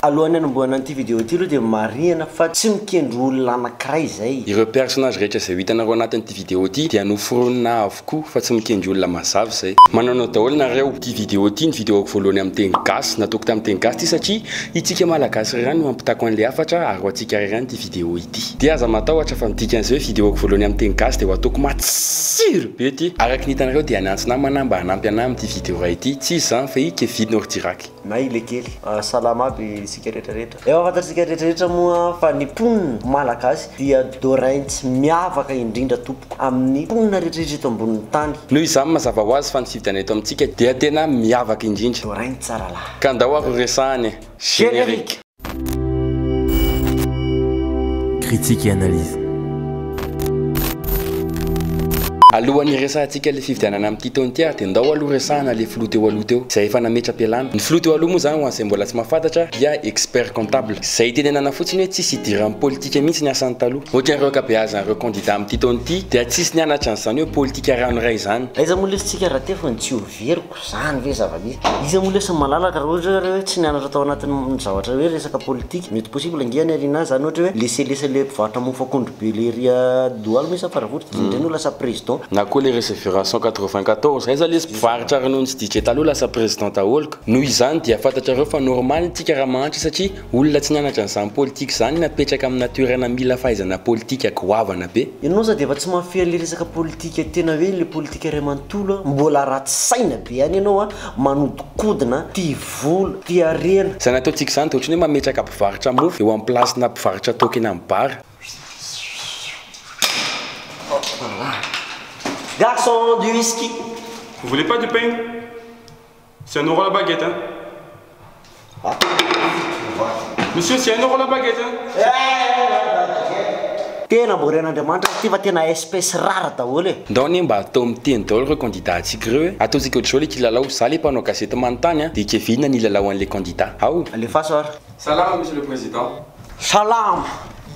Alohan'ny hanombohana an'ity vidéo ity aloha dia marihana fa tsy mikendry olona anankiray izay. Ireo personnage rehetra izay ho hitanareo anatin'ity vidéo ity dia noforonina avokoa fa tsy mikendry olona mazava izay. Manonona daholo nareo ity vidéo ity ny vidéoko voalohany amin'ny teny gasy. Nataoko tamin'ny teny gasy ity satria itsika malagasy irery no ampitako an'ilay hafatra ary ho antsika irery ihany ity vidéo ity. vidéo ity. Dia aza matahotra fa ny dikan'izay hoe vidéoko voalohany amin'ny teny gasy dia ho ataoko matsiro be ity. Araka ny hitanareo dia niantso namana mba hanampy anah amin'ity vidéo iray ity, tsy iza izany fa i Kevin Ordirac. Na i Lekely. Salama aby isika rehetra rehetra. Efa fantatsika rehetra rehetra moa fa ny mponina Malagasy dia Doraints miavaka indrindra tompoko amin'ny mponina rehetra rehetra eto ambonin'ny tany. Noho izany mazava ho azy fa ny fividana eto amintsika dia tena miavaka indrindra. Doraints tsara lahy. Ka ndao ary ho resahana e! Générique. Critique et analyse. Alohan'ny hiresahantsika ilay fifidianana amin'ity taona ity ary dia ndao aloha resahana ilay filoha teo aloha teo izay efa nametra-pialana. Ny filoha teo aloha moa izany ho an'izay mbola tsy mahafantatra dia expert comptable izay itenenana fotsiny hoe tsisy idiran'ny politika mihitsy ny asany taloha. Ohatran'ireo ankabeazan'ireo kandida amin'ity taona ity dia tsisy nianatra an'izany hoe politika ranoiray izany. Aiza moa lesy tsika raha teo fa ny tsy ho very. Izany ve zava-misy? Iza moa lesy no malalaka raha ohatra hoe hoe tsy nianatra tao anatin'ny zavatra hoe resaka politika? Mety possible ange any aoriana any izany ohatra hoe laisser laisser le mpivarotra mofo akondro be lery a Doholm io sa Faravohitra dia indray no lasa président. Na koa le reseveration quatre-vingt-quatorze aiza lesy mpivarotra ronono sy DJ taloha lasa président daholo ka noho izany dia fantatrareo fa normal tsika raha mahantra satria Olona tsy nianatra an'izany politika izany no apetraka amina toerana mila fahaizana politika goavana be. Ianao za dia efa tsy mahafehy an'ilay resaka politika tena hoe ilay politika iray manontolo a! Mbola ratsy saina be ihany ianao a! Manodikodina, tia vola, tia harena. Izany ataontsika izany dia ohatran'ny hoe mametraka mpivarotra mofo eo amin'ny place-na mpivarotra toaka eny amin'ny bar. Garçon, du whisky! Vous voulez pas du pain? Tsy hainao roa la baguette an! Monsieur tsy hainao roa la baguette an! Tena namboarin'Andriamanitra ity fa tena espèce rare daholo e! Ndao anie mba atao miteny daholo reo candidat antsika reo e! Ataontsika otrzao le kilalao, za le mpanao gazety manontany an, de kevenina ny hilalao anle candidat ao! Alefaso ary! Salama Monsieur le Président. Salama.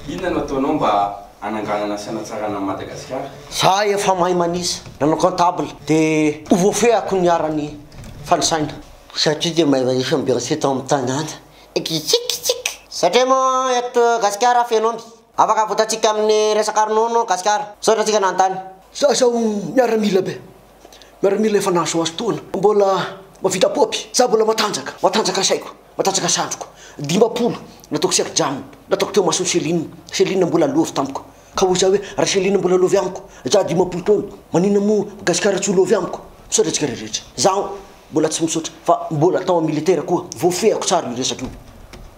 Inona no ataonao mba hananganana sy hanatsarana an'i Madagasikara? Za efa mahay manisa, nanao comptable de ho voafehiko ny arany fanisaina. Satria dia mahay manisa ny berger tao amin'ny tanàna. Kikikikikiky. Satria moa eto Gasikara feno omby. Afaka avotantsika amin'ny resaka ronono Gasikara. Misaotra antsika nanontany. Za zao miaramila be, miaramila efa nahazoazo taona, mbola mahavita paopy, za mbola matanjaka, matanjaka saiko, matanjaka sandriko, dimampolo nataoko serjana, nataoko teo mason'i Céline, Céline mbola lova tamiko. Ka hoy za hoe ra Céline mbola lovy amiko, za dimampolo taona, maninona moa Gasikara tsy ho lovy amiko? Misaotra antsika rehetra. Zaho mbola tsy misaotra fa mbola tao am militaire koa, voafehiko tsara io resaka io.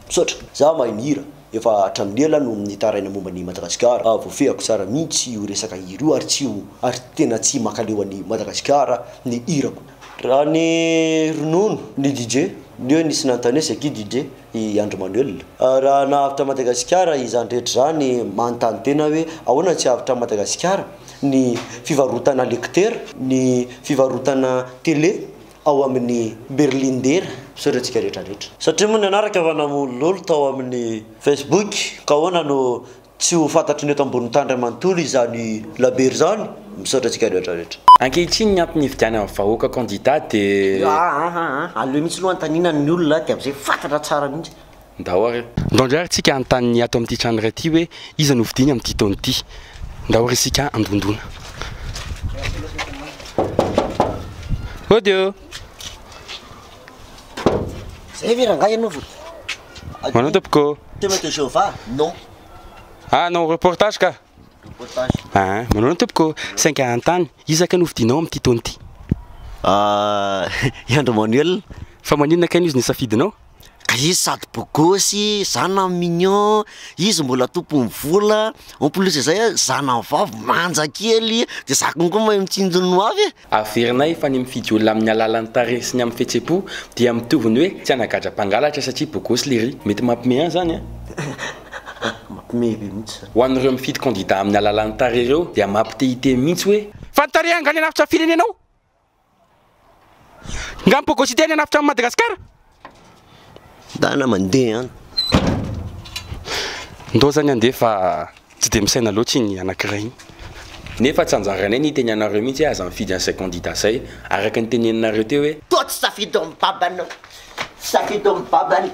Misaotra. Za mahay mihira, efa hatramin'ny ela no nitaraina momba an'i Madagasikara, voafehako tsara mintsy io resaka hira io ary tsy ho ary tena tsy makaleo an'i Madagasikara ny hirako. Raha ny ronono, ny DJ, ny hoe nisy nanontania c'est qui DJ? i Andry Manuel. Raha nahavitra an'i Madagasikara izany rehetra izany, manontany tena aho hoe ahoana no tsy hahavitran'i Madagasikara ny fivarotana lektera, ny fivarotana tele ao amin'ny berlindera? Misaotra antsika rehetra rehetra. Satria moa nanaraka fa namololo tao amin'ny Facebook ka ahoana no Tsy ho fantatry ny eto ambonin'ny tany iray manontolo izany labero izany. Misaotra antsika rehetra rehetra. Ankehitriny ny antony hividianany amin'ny vahoaka kandida dia. Aa aleo mihitsy aloha anontaniana ny olona dia amin'izay fantatra tsara mihitsy. Ndao ary. Ndao indray ary tsika hanontany ny ato amin'ity trano iray ity hoe iza no hofidiany amin'ity taona ity. Ndao ary isika handondona. Audio. Zay ve rangahy ianao vao. Manao tompoko. Témoin de Jéhovah? Non. Ah, non, reportage ka. Reportage. Ah, manao ny tompoko. Sainga hanontany, iza kay no fidinao amin'ity taona ity? Ah, i Andry Manuel. Fa maninona kay no izy no safidinao? Ka izy sady beau gosse, zana mignon, izy mbola tompon'ny vola, en plus izay zana vavy manja kely, de za konko mahay mitsinjo ny ho avy e. Averinay fa ny mifidy olona amin'ny alalan'ny tarehy sy ny amin'ny fihetsem-po dia mitovy ny hoe tsy hanagadra mpangalatra satria bogosy lery. Mety mampime an zany an. Mampime be mihitsy zany. Ho an'ireo mifidy kandida amin'ny alalan'ny tarehy ireo dia mampitehitey mihitsy hoe. Fa ny tarehy angaha ny hanafitra ny firenenao? Nga ny bogosité ny hanafitra an'i Madagasikara? Ndana mandeha an! Ndao zany handeha fa tsy dia misaina loatra iny anankiray iny. Nefa tsy anjaranay ny hiteny anareo mihitsy hoe aza mifidy an'izay kandida izay, araka ny teneninareo teo hoe. Toa tsy safidy ao amin'ny babanao. Tsy safidy ao amin'ny babany.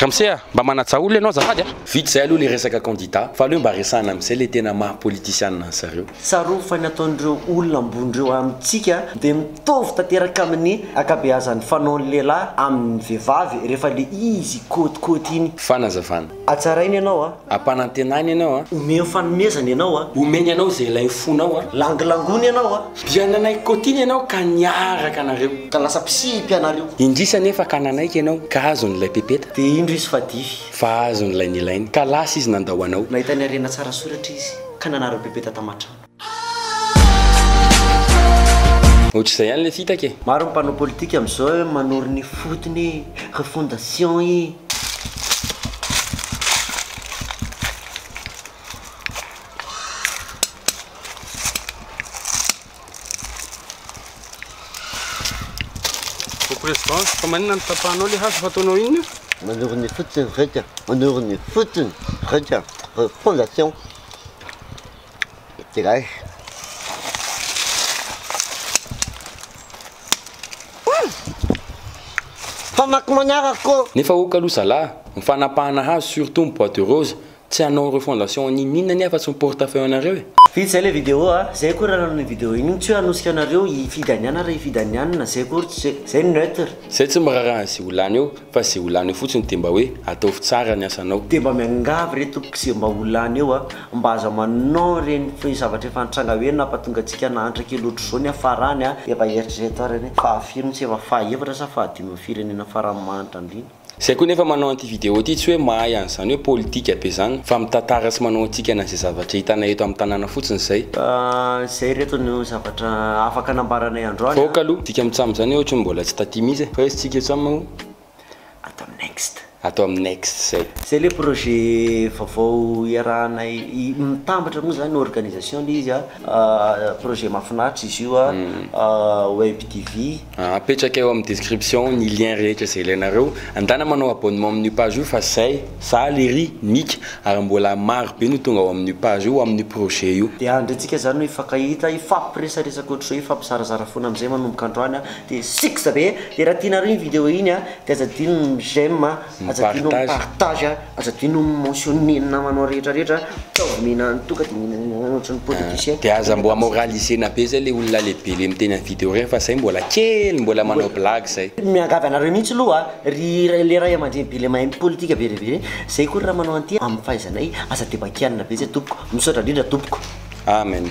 Ramose a! Mba manajà olona ianao azafady a! Vita izay aloha ilay resaka kandida fa aleo mba resahina amin'izay ilay tena maha politisianina an'zareo. Tsarovy fa ny ataon'ireo olona ambony ireo amintsika dia mitovy tanteraka amin'ny ankabeazan'ny fanaon'ny lehilahy amin'ny vehivavy rehefa le izy kôtikôty iny. Fanazavana. Hatsarainy ianao a. Hampanantenany ianao a. Omeny fanomezana ianao a. Omeny anao izay ilain'ny fonao a. Langilangony ianao a. Dia nanaiky kôtiny ianao ka niaraka anareo. Ka lasa mpisimpy ianareo. Indrisy anefa ka nanaiky ianao. Ka azony ilay pepeta. Dia indro izy fa dify. Fa azony ilay nilainy. Ka lasa izy nandao anao. Nahita ny harena tsara soratra izy. ka nanara bebe tata matranga. Otrzay ihany le fitaka e. Maro ny mpanao politika amzao e manoro ny fotony e refondation e. Ô président, fa maninona no tapahanao le hazo fa ataonao inona io? Manoro ny fotony reka, manoro ny fotony reka, refondation Tigay. Famaky manaraka ô! Nefa ok aloha zalah, ny fanapahana hazo surtout ny bois de rose Tsy hanao refondation niniana anie afa-tsy ny portefeuille anareo e! Vita izay ilay vidéo a! Izay akory anareo ny vidéo iny, tsy hoe hanosika anareo hifidy an'i ana ra hifidy an'i anona, izay akory, izay no neutre. Izay tsy miraharaha an'izay ho lany eo, fa izay ho lany eo fotsiny dia mba hoe ataovy tsara ny asanao. Dia mba miangavy re tompoko izay mba ho lany eo a, mba aza manao ireny zavatra efa nitranga hoe nampatonga antsika nahantra kely ohatr'izao ny hafarany a, dia mba eritrereto ary anie, fahafirony tsy efa fahaefatra sa fahadimy amin'ny firenena farany mahantra indrindra. Zay koa nefa manao an'ity vidéo ity tsy hoe mahay an'izany hoe politika be zany fa mitantara sy manao hatsikana an'izay zavatra hitanay eto amin'ny tanàna fotsiny izay. Izay ireto no zavatra afaka nambaranay androany. Fa ok aloha, dika amin'ny tsam zany ohatry ny mbola tsy taty mihitsy e. Fa aiza tsika tsam o? Ato amin'ny next. Ato amin'ny next zay. Zay le projet vaovao iarahanay, mitambatra moa zany organisation le izy a, projet mahafinaritra izy io a, web TV. Apetraka eo amin'ny description ny lien rehetra izay ilainareo. Andana manao abonnement amin'io page io fa zay, za, Lery, Nika ary mbola maro be no tonga ao amin'io page io ho amin'ny projet io. Dia andry antsika zany no hifankahita, hifampiresaresaka ohatr'izao, hifampizarazara foana amin'izay manomboka androany dia six be. Dia raha tianareo iny vidéo iny dia aza adino ny j'aime. Aza adino mi partage a, aza adino mi mentionne ny namanao rehetra rehetra a, ataovy mihinana any toa ka de mihinana any ianao ohatry ny politicien, de aza mboa moralisena be zay le olona lehibe le miteny am video reny fa zay mbola kely mbola manao blague zay. Miangavy anareo mihitsy aloha a, ry le ray aman-dreny be le mahay mi politika be le be reny, zay koa raha manao an'ity am fahaizanay, aza de bakianina be zay tompoko, misaotra indrindra tompoko. Amen.